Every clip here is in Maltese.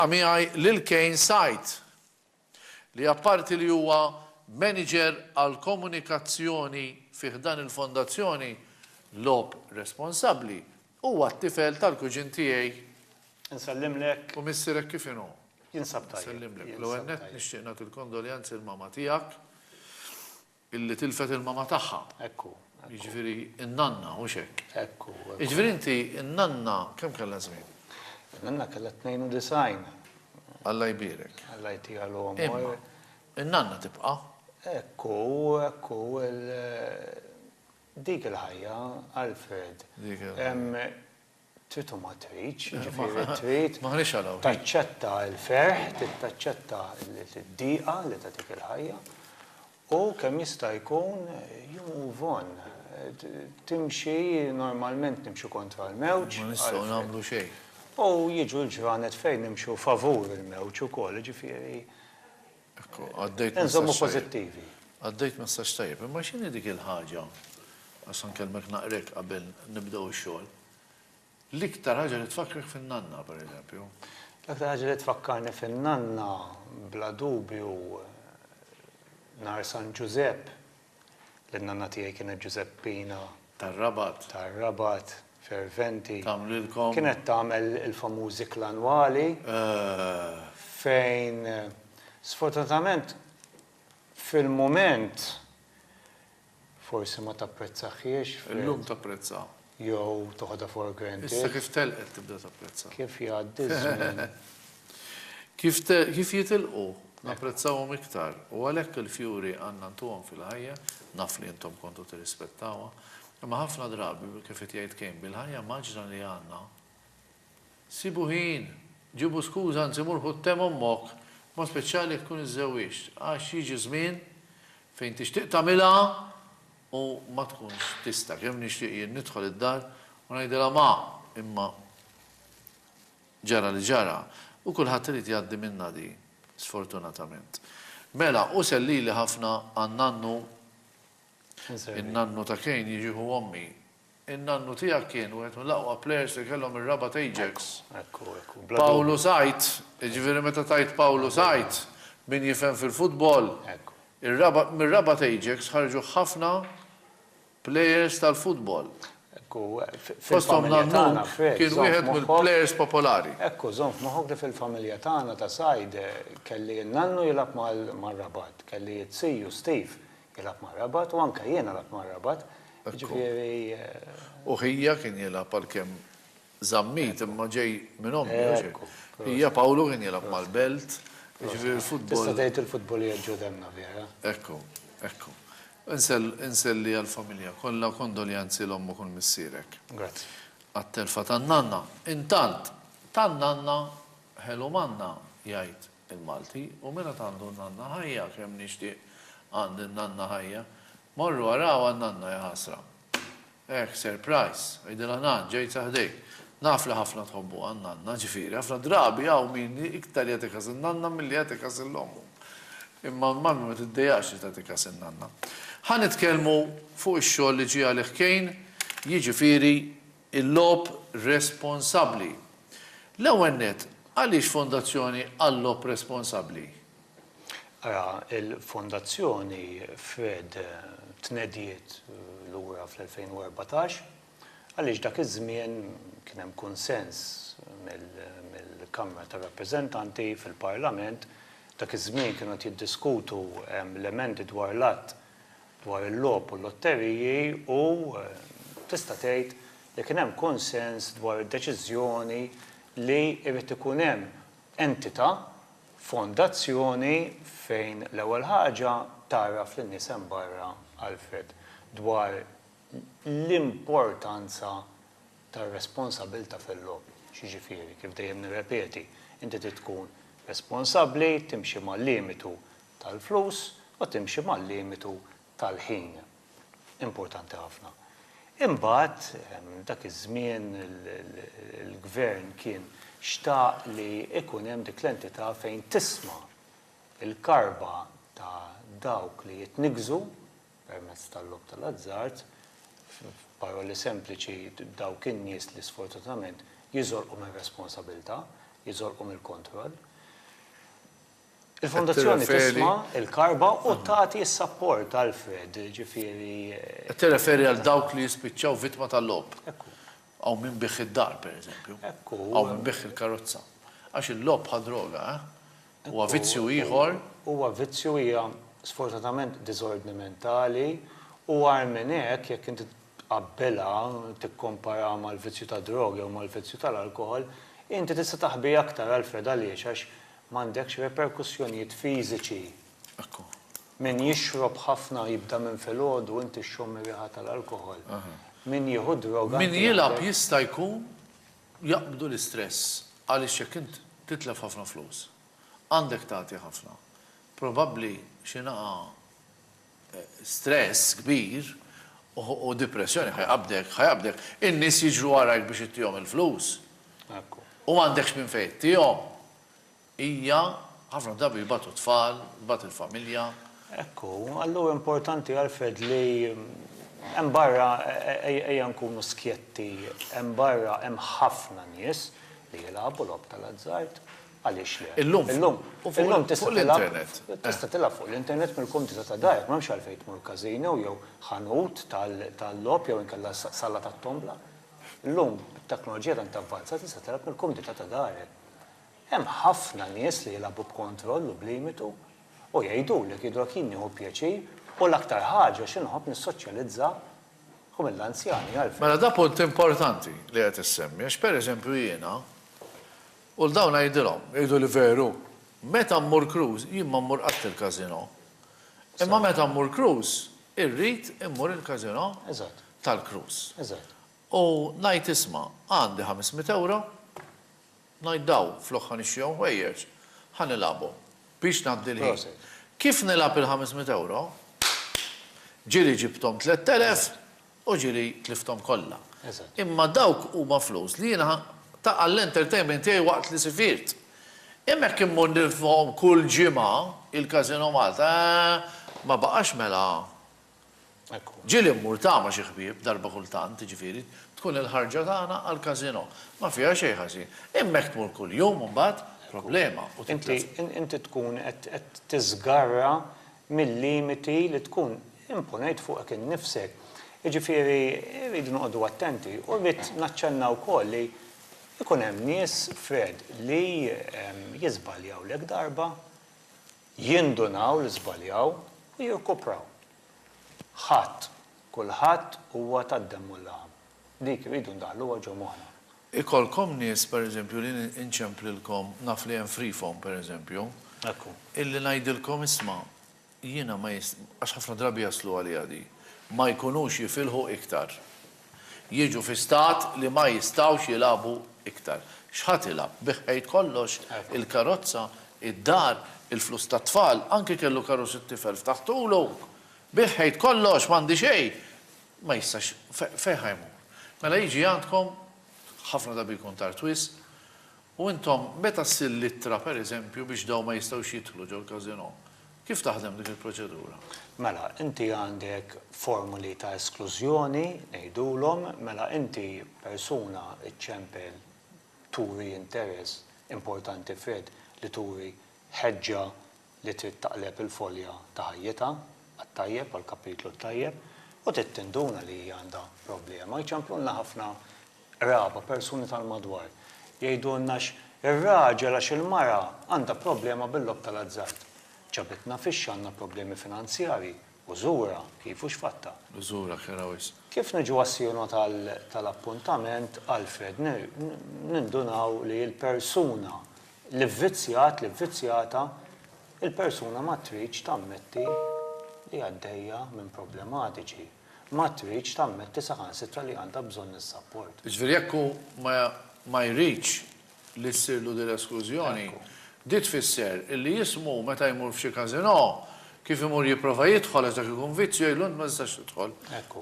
Ltqa' miegħi lil Kane Said, li apparti li huwa Maniġer għall-Komunikazzjoni fi ħdan il-Fondazzjoni Logħob Responsabbli, huwa t-tifel tal-kuġin tiegħi. Insellimlek. U missierek kif inhu? Jinsab tajjeb. Insellimlek. L-ewwel nett nixtieq nagħti l-kondoljanzi l-mama tiegħek. Illi tilfet il-mama tagħha. Hekk hu. Jiġifieri n-nanna, hux hekk? Hekk hu. Jiġifieri inti, n-nanna kemm kellha żmien? In-nanna kellha 92. Alla jbierek. Alla jtiha l-għomor. Imma, in-nanna tibqa'. Hekk hu, hekk hu. Dik il-ħajja, Alfred. Dik il-ħajja. Trid u ma tridx, jiġifieri trid taċċetta l-ferħ, trid taċċetta d-dieqa li tagħtik il-ħajja u kemm jista' jkun you move on. Timxi, normalment nimxu kontra l-mewġ. Ma nistgħu nagħmlu xejn. U jiġu l-ġranet fejn nimxu favur il-mewġ ukoll, jiġifieri. Ekku, għaddejt Inżommu pożittivi. Għaddejt messaġġ tajjeb, imma x'inhi dik il-ħaġa għax nkellmek naqrek qabel nibdew ix-xogħol. L-iktar ħaġa li tfakkrek fin-nanna, pereżempju. L-aktar ħaġa li tfakkarni fin-nanna bla dubju nhar San Ġużepp li n-nanna tiegħi kienet Ġużeppina. Tar-Rabat. Tar-Rabat, ferventi. Tagħmlilkom. Kienet tagħmel il-famużi klanwali. Eh. Fejn sfortunatament fil-mument forsi ma tapprezzahiex. Illum tapprezzaha. jew toħodha for granted. Issa kif telqet tibda tapprezza. Kif jgħaddi ż-żmien. Kif jitilqu napprezzawhom iktar u għalhekk il-fjuri għandna ntuhom fil-ħajja, naf li intom kontu tirrispettawha, imma ħafna drabi kif qed jgħid Kejn bil-ħajja mgħaġġla li għandna, sibu ħin, ġibu skuża anzi mur ħu t-te m'ommok, b'mod speċjali jekk tkun iżżewwiġt, għax jiġi żmien fejn tixtieq tagħmilha, u ma tkunx tista'. Kemm nixtieq jien nidħol id-dar u ngħidilha ma! Imma ġara li ġara u kulħadd irid jgħaddi minnha di, sfortunatament. Mela, hu sell lili ħafna għan-nannu, in-nannu ta' Kane jiġi ħu ommi. In-nannu tiegħek kien wieħed mill-aqwa plejers li kellhom ir-Rabat Ajax. Ekku, ekku, bla dubju. Pawlu Said, jiġifieri meta tgħid Pawlu Said, min jifhem fil-futbol, ir-Rabat, mir-Rabat Ajax ħarġu ħafna plejers tal-futbol. Ekku, fil-familja tagħna, Fred, żomm f'moħħok. Fosthom Nannuk, kien wieħed mill-plejers popolari. Ekku, żomm f'moħħok li fil-familja tagħna ta' Said, kelli n-nannu jilgħab mar-Rabat, kelli t-siju Steve Jilgħab mar-Rabat u anke jien għalabt mar-Rabat, jiġifieri. U Hija kien jilgħab għalkemm Zammit imma ġej minn ommi, jew x'hekk. Hija Pawlu kien jilgħab mal-Belt, jiġifieri l-futbol. Tista' tgħid il-futbol qiegħed ġo demmna vera. Ekku, ekku. Inselli għall-familja kollha u kondoljanzi 'l ommok u 'l missierek. Grazzi. Għat-telfa tan-nanna. Intant, tan-nanna ħelu manna, jgħid. il-Malti, u min għad għandu n-nanna ħajja, kemm nixtieq għandi n-nanna ħajja. Morru araw għan-nanna ja ħasra. Ehh, surprise, għidilha nan, ġejt sa ħdejk. Naf li ħafna tħobbuha n-nanna, ġifieri, ħafna drabi hawn min iktar jagħti kas in-nanna milli jagħti kas lil ommu. Imma l-mammi ma tiddejaqx li tagħti kas in-nanna. Ħa nitkellmu fuq ix-xogħol li ġie għalih Kejn, jiġifieri Il-logħob responsabbli. L-ewwel nett, għaliex Fondazzjoni għal-Logħob Responsabbli? Ara, il-Fondazzjoni fred tnediet lura fl-2014 għaliex dak iż-żmien kien hemm kunsens mill-Kamra tar-Rappreżentanti fil-Parlament, dak iż-żmien kienu qed jiddiskutu l-emendi dwar l-Att dwar il-logħob u l-lotteriji u, tista' tgħid, li kien hemm kunsens dwar id-deċiżjoni li jrid ikun hemm entità, fondazzjoni, fejn l-ewwel ħaġa tgħarraf lin-nies hemm barra, Alfred, dwar l-importanza tar-responsabbiltà fil-logħob. X'jiġifieri? Kif dejjem nirrepeti, inti trid tkun responsabbli, timxi mal-limitu tal-flus u timxi mal-limitu tal-ħin. Importanti ħafna. Imbagħad, dak iż-żmien il-Gvern kien xtaq li jkun hemm dik l-entità fejn tisma' l-karba ta' dawk li jitniggżu permezz tal-logħob tal-azzard, f'paroli sempliċi dawk in-nies li sfortunatament jiżolqu mir-responsabilità, jiżolqu mill-kontroll. Il-Fondazzjoni tisma' l-karba u tagħti s-sapport, Alfred, ġifieri. Qed tirreferi għal dawk li jispiċċaw vittma tal-logħob. Ekku. Hawn min biegħ id-dar, pereżempju. Ekku. Hawn min biegħ il-karozza. Għax il-logħob bħal droga, eh? Huwa vizzju ieħor. Huwa vizzju, hija sfortunatament diżordni mentali, u agħar minn hekk, jekk inti tqabbbilha, tikkomparaha mal-vizzju tad-droga jew mal-vizzju tal-alkoħol, inti tista' taħbi aktar, Alfred, għaliex? Għax M'għandekx reperkussjonijiet fiżiċi. Min jixrob ħafna jibda minn filgħodu u inti xxomm ir-riħa tal-alkoħol. Min jieħu d-droga. Min jilgħab jista' jkun jaqbdu l-istress għaliex jekk int titlef ħafna flus, għandek tagħti ħafna, probabbli xi naqa' stress kbir u dipressjoni ħa jqabbdek, ħa jqabbdek. In-nies jiġru warajk biex ittihom il-flus. U m'għandekx minn fejn ittihom. Hija, ħafna drabi jbatu t-tfal, tbati l-familja. Hekk hu. Allura importanti Alfred li hemm barra, ejja nkunu skjetti, hemm barra hemm ħafna nies li jilagħbu logħob tal-azzard. Għaliex le? Illum. Illum. Illum tista' tilgħab. Fuq l-internet. Tista' tilgħab fuq l-internet mill-kumdità ta' darek, m'hemmx għalfejn tmur casino jew ħanut tal-logħob jew inkella sala tat-tombla. Illum, bit-teknoloġija tant avvanzata tista' tilgħab mill-kumdità ta' darek. Hemm ħafna nies li jilagħbu b'kontroll u b'limitu u jgħidulek jidhru jekk jien nieħu pjaċir u l-aktar ħaġa xi nħobb nissoċjalizza u mill-anzjani għalfejn. Mela da punt importanti li qed issemmi għax pereżempju jiena U 'l dawn għidilhom, Jgħidu li veru, meta mmur cruise, jien ma mmur qatt il-casino. Imma meta mmur cruise, irrid immur il-casino tal-cruise. U ngħid isma', għandi ħames mitt ewro, ngħid daw flok ħa nixtrihom ħwejjeġ, ħa nilgħabhom biex ngħaddi l-ħin. Kif nilgħab il-ħames mitt ewro, ġieli ġibthom tlett elef U ġieli tlifthom kollha. Imma dawk huma flus li jiena ta' għall-entertainment tiegħi waqt li sifirt. Imma jekk immur nirfhom kull ġimgħa, il-Casino Malta, eeh, ma baqax mela. Ġieli mmur ta' ma' xi ħbieb darba kultant, jiġifieri, tkun il-ħarġa tagħna għall-Casino. Ma fiha xejn ħażin. Imma jekk tmur kuljum imbagħad, problema u titlef. Inti tkun qed tiżgarra mil-limiti li tkun imponejt fuqek innifsek. Jiġifieri rridu noqogħdu attenti. U rrid naċċenna wkoll li jkun hemm nies, Fred, li jiżbaljaw l-ek darba, jindunaw li żbaljaw u jirkupraw. Ħadd, kulħadd huwa tad-demm u l-laħam. Dik irridu ndaħħluha ġo moħħna. Ikollkom nies, per eżempju, li nċemplilkom, naf li hemm Freefoam, per eżempju, illi ngħidilkom isma', jiena ma għax ħafna drabi jaslu għaliha di, ma jkunux jifilħu iktar. Jiġu fi stat li ma jistgħux jilagħbu iktar. X'ħa tilgħab? Bigħ ħejt kollox, il-karozza, id-dar, il-flus tat-tfal, anki kellu karozza t-tifel ftaħtulu, bigħ ħejt kollox, m'għandi xejn. Ma jistax, fejn ħa jmur? Mela jiġi għandkom, ħafna drabi jkun tard wisq, u intom meta ssir l-ittra pereżempju biex dawn ma jistgħux jidħlu ġol-casino, kif taħdem dik il-proċedura? Mela, inti għandek formuli ta' esklużjoni, ngħidulhom, mela inti persuna ċċempel turi interess importanti f'red li turi ħeġġa li trid taqleb il-folja ta' ħajjitha għat-tajjeb, għall-kapitlu t-tajjeb, u trid tinduna li hija għandha problema. Jċemplulna ħafna qraba, persuni tal-madwar, jgħidulna x' ir-raġel għax il-mara għandha problema bil-logħob tal-azzard. Ġabitna fix-xi għandna problemi finanzjarji, u żurha kif u x'fattha. Żurha kera wisq. Kif niġu għas-sieno tal-appuntament, Alfred, nindunaw li l-persuna L-ivvizzjat, l-ivvizzjata, il-persuna ma tridx tammetti li għaddejja minn problematiċi, ma tridx tammetti saħansitra li għandha bżonn is-sapport. Jiġifieri jekk hu ma ma jridx li ssirlu din l-esklużjoni, di tfisser illi jismu meta jmur f'xi każinò Kif imur jipprova jidħol għax dak ikun vizzju jgħidlu int ma tistax tidħol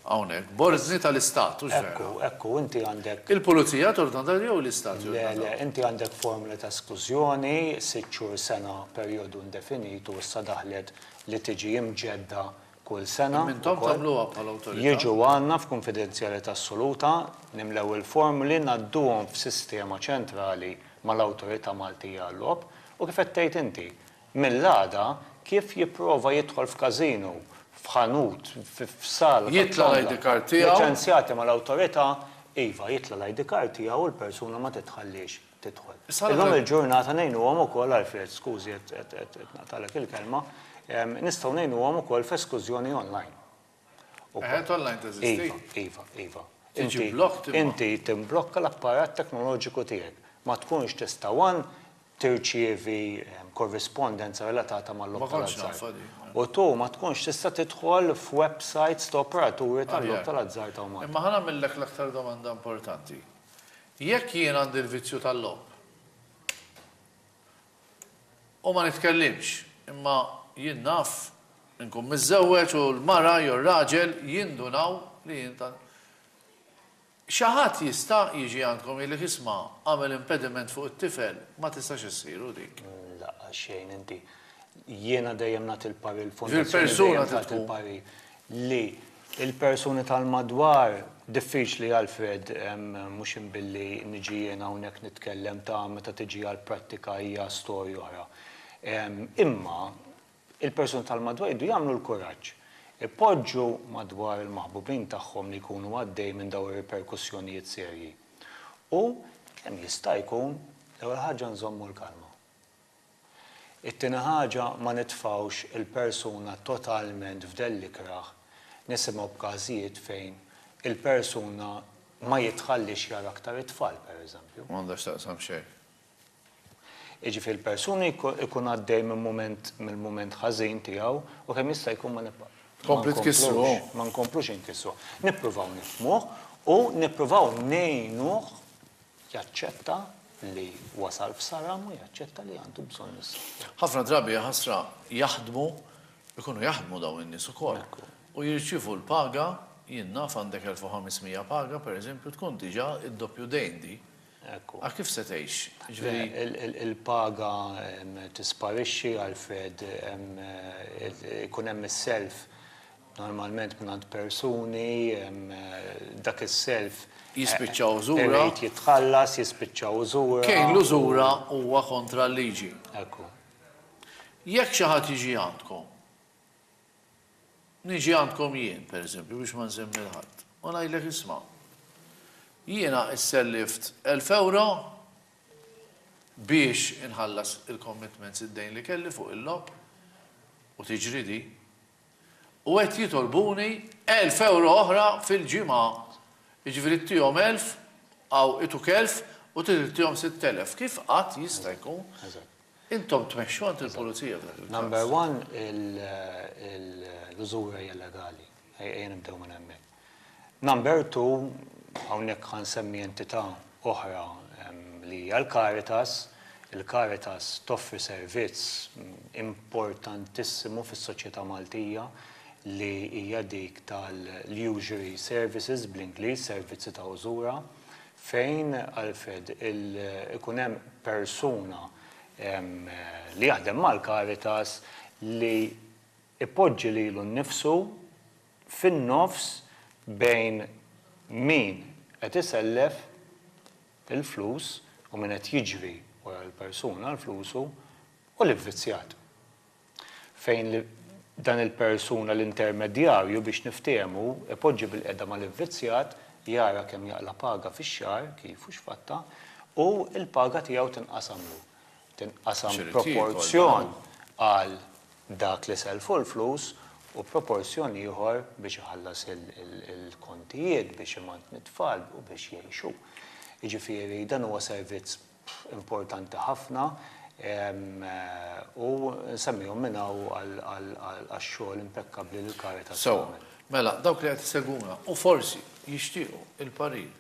hawnhekk. B'ordni tal-Istat, hux vera? Ekku, ekku, inti għandek. Il-pulizija tordna dan jew l-Istat jordna dan? Le, le, inti għandek formula ta' esklużjoni, sitt xhur, sena, perjodu indefinitu u issa daħlet li tiġi imġedda kull sena. Imma intom tagħmluha bħala awtorità. Jiġu għandna f'kunfidenzjalità assoluta, nimlew il-formuli, ngħadduhom f'sistema ċentrali mal-Awtorità Maltija għal-Logħob u kif qed tgħid inti, Mill-għada, kif jipprova jidħol f'każinu, f'ħanut, f'sala tat-tombola, liċenzjati mal-Awtorità, iva, jitla' l-ID card tiegħu u l-persuna ma titħalliex tidħol. Illum il-ġurnata ngħinuhom ukoll, Alfred, skużi qed naqtagħlek il-kelma, nistgħu ngħinuhom ukoll f'eskużjoni online. Eħe, online teżisti. Iva, iva, iva. Tiġi blocked imma. Inti timblokka l-apparat teknoloġiku tiegħek. Ma tkunx tista' one tirċievi korrispondenza relatata mal-logħob tal-azzard. Ma kontx naf din. U two ma tkunx tista' tidħol f'websites ta' operaturi tal-logħob tal-azzard hawn Malta. Imma ħa nagħmillek l-aktar domanda importanti. Jekk jien għandi l-vizzju tal-logħob, U ma nitkellimx. Imma jien naf, inkun miżżewweġ u l-mara jew ir-raġel jindunaw li jien tant. Xi ħadd jista' jiġi għandkom jgħidlek isma' għamel impediment fuq it-tifel, ma tistax issir hu dik. Lanqas xejn inti. Jiena dejjem nagħti l-parir, il-Fondazzjoni dejjem tagħti l-parir. li l-persuni tal-madwar, diffiċli Alfred, mhux jien billi niġi jien hawnhekk nitkellem ta' meta tiġi għall-prattika hija storja oħra. Imma il-persuni tal-madwar jridu jagħmlu l-kuraġġ. Ipoġġu madwar il-maħbubin tagħhom li jkunu għaddej minn dawn ir-riperkussjonijiet serji. U kemm jista' jkun, l-ewwel ħaġa nżommu l-kalma. It-tieni ħaġa, ma nitfgħux il-persuna totalment f'dell l-ikrah, nisimgħu b'każijiet fejn il-persuna ma jitħalliex jara aktar it-tfal, pereżempju. Ma għandha x'taqsam xejn. Jiġifieri l-persuna jkun għaddej minn mument mill-mument ħażin tiegħu u kemm jista' jkun ma nibqa'. Tkompli tkissru. Ma nkomplux inkissru. Nippruvaw nifhmuh u nippruvaw ngħinuh Jaċċetta li wasal f'saram u jaċċetta li għandu bżonn is-saħħa. Ħafna drabi, ja ħasra, jaħdmu, ikunu jaħdmu dawn in-nies ukoll, u jirċievu l-paga, jien naf għandek 1500 paga, per eżempju, tkun diġà id-doppju dejn di. A kif se tgħix? Jiġifieri. Il-paga tisparixxi, Alfred, ikun hemm is-self. normalment mingħand persuni, dak is-self. Jispiċċa użura. Irid jitħallas, jispiċċa użura. Kejl l-użura huwa kontra l-liġi. Ekku. Jekk xi ħadd jiġi għandkom, niġi għandkom jien, pereżempju, biex ma nsemmi lil ħadd, u ngħidlek isma', jiena issellift 1000 ewro biex inħallas il-commitments, id-dejn li kelli fuq il-logħob, u tiġri din, u qed jitolbuni elf ewro oħra fil-ġimgħa, jiġifieri tihom elf, hawn ituk elf u trid ittihom sitt elef. Kif qatt jista' jkun intom tmexxu għand il-Pulizija f'dak il-każ? Number one, l-użura hija legali. Ejja nibdew minn hemmhekk. Number two, hawnhekk ħa nsemmi entità oħra li hija l-Caritas. Il-Caritas toffri servizz importantissimu fis-soċjetà Maltija li hija dik tal-usury services, bl-Ingliż, servizzi ta' użura, fejn, Alfred, ikun hemm persuna li jaħdem mal-Caritas li jpoġġi lilu nnifsu, fin-nofs bejn min qed isellef il-flus u min qed jiġri wara l-persuna għal flusu u l-ivvizzjat. Fejn dan il-persuna l-intermedjarju biex niftehmu ipoġġi bil-qiegħda mal-ivvizzjat, jara kemm jaqla' paga fix-xahar, kif u x'fatta, u l-paga tiegħu tinqasamlu. tinqasam proporzjon għal dak li sellfu l-flus u proporzjon ieħor biex iħallas il-kontijiet, biex imantni t-tfal u biex jgħixu. Jiġifieri dan huwa servizz importanti ħafna u nsemmihom minn hawn għax-xogħol impekkabbli li l-Caritas tagħmel. Sew, mela dawk li qed isegwuna u forsi jixtiequ l-parir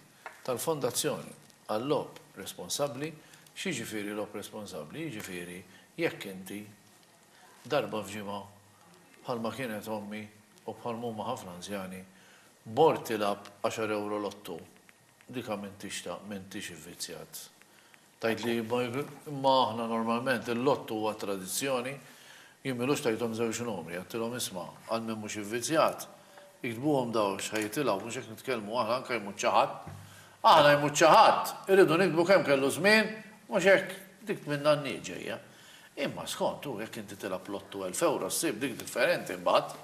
tal-fondazzjoni għal-logħob responsabbli, x'jiġifieri logħob responsabbli? Jiġifieri jekk inti darba f'ġimgħa, bħalma kienet ommi u bħalma huma ħafna anzjani, mort tilgħab għaxar ewro lotto, dik għamiltixtha m'intix ivvizzjat. Tgħid li Bible, imma aħna normalment il-lott huwa tradizzjoni, jien m'ilux tajthom żewġ numri, għedtilhom isma', għal min mhux ivvizzjat, iktbuhom daw għax ħa jitilgħu, mhux hekk nitkellmu aħna anke jmut xi ħadd. Aħna jmut xi ħadd, irridu niktbu kemm kellu żmien, mhux hekk dik minn nannijiet ġejja. Imma skont hu jekk inti tilgħab lotto elf ewro ssib dik differenti mbagħad.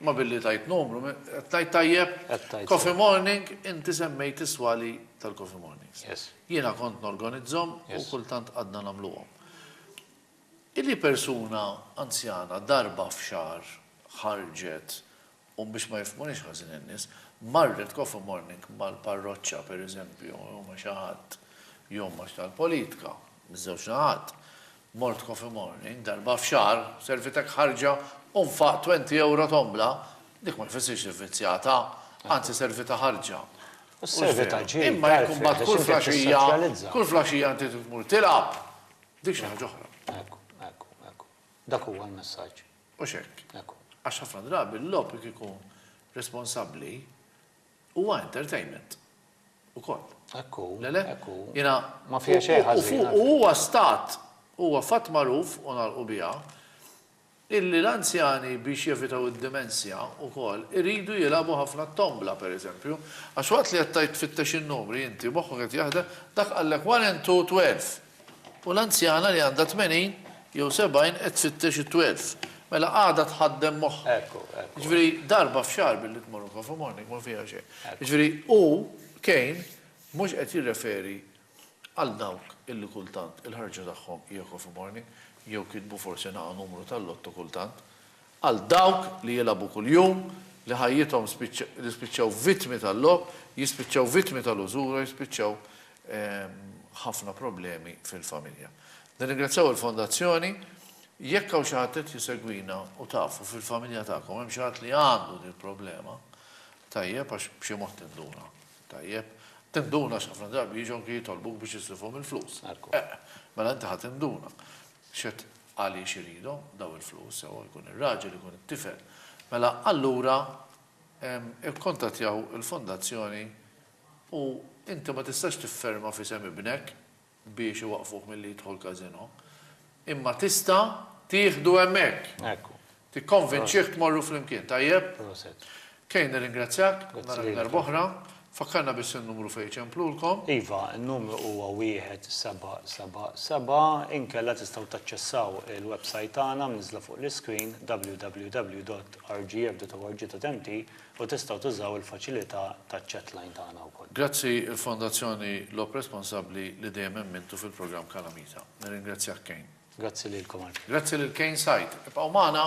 Imma billi tgħid numru, qed ngħid tajjeb? Coffee Morning, inti semmejt is-swali tal-Coffee Mornings. Jiena kont norganizzhom u kultant għadna nagħmluhom. Illi persuna anzjana darba f'xahar ħarġet, u biex ma jifhmunix ħażin in-nies, marret coffee morning mal-parroċċa pereżempju jew ma' xi ħadd, jew ma' tal-politka, miż-żewġ naħat, Mort Coffee Morning darba f'xahar, servitek ħarġa u nfaqt twenty ewro tombla, dik ma jfissirx li vvizzjata, anzi servita ħarġa. U s-servita ġid, Imma jekk imbagħad kull flaxija, kull flaxija inti trid tmur tilgħab, dik xi ħaġa oħra. Hekk hu, hekk hu, hekk hu. Dak huwa l-messaġġ. Hux hekk? Hekk hu. Għax ħafna drabi l-logħob jekk ikun responsabbli, Huwa entertainment ukoll. Hekk hu, hekk hu. Ma fiha xejn ħażin. U huwa stat, huwa fatt magħruf, u nagħlqu biha, illi l-anzjani biex jevitaw id-dimensja ukoll iridu jilagħbu ħafna t-tombla, per eżempju, għax waqt li qed tgħid tfittex in-numri inti moħħok qed jaħdem, dak qallek one and two twelve. U l-anzjana li għandha tmenin jew sebgħin qed tfittex it-twelf. Mela għadha tħaddem moħħha. Ekku, ekku. Jiġifieri darba f'xahar billi tmur il-coffee morning ma fiha xejn. Jiġifieri hu, Kane, mhux qed jirreferi għal dawk illi kultant il-ħarġa tagħhom hija coffee morning jew kitbu forsi naqa' numru tal-lotto kultant. Għal dawk li jilagħbu kuljum, li ħajjithom li spiċċaw vittmi tal-logħob, jispiċċaw vittmi tal-użura, jispiċċaw ħafna problemi fil-familja. Nirringrazzjaw il-Fondazzjoni. Jekk hawn xi ħadd qed jsegwina u tafu fil-familja tagħkom hemm xi ħadd li għandu dil-problema, tajjeb għax b'xi mod tinduna. Tajjeb? Tinduna għax ħafna drabi jiġu anki jitolbuk biex islifhom il-flus. Mela inti ħa tinduna. Għaliex iridhom dawn il-flus, sewwa jkun ir-raġel, ikun it-tifel. Mela allura ikkuntattjaw il-fondazzjoni u inti ma tistax tifferma f'isem ibnek biex iwaqqfuh milli jidħol casino, imma tista' tieħdu hemmhekk. Ekku. Tikkonvinċih tmorru flimkien, tajjeb? Proset. Kay, nirringrazzjak, narak darb'oħra. Fakkarna biss in-numru fejn iċemplulkom. Iva, in-numru huwa wieħed seba' seba' seba', inkella tistgħu taċċessaw il-websajt tagħna mniżżla fuq l-iscreen www.rgf.org.mt u tistgħu tużaw il-faċilità taċ-chatline tagħna wkoll. Grazzi il-Fondazzjoni Lop Responsabbli li dejjem emmintu fil-programm Kalamita. Nirringrazzjak Kane. Grazzi lilkom għall-kliem. Grazzi lil Kane Said. Ibqgħu magħna.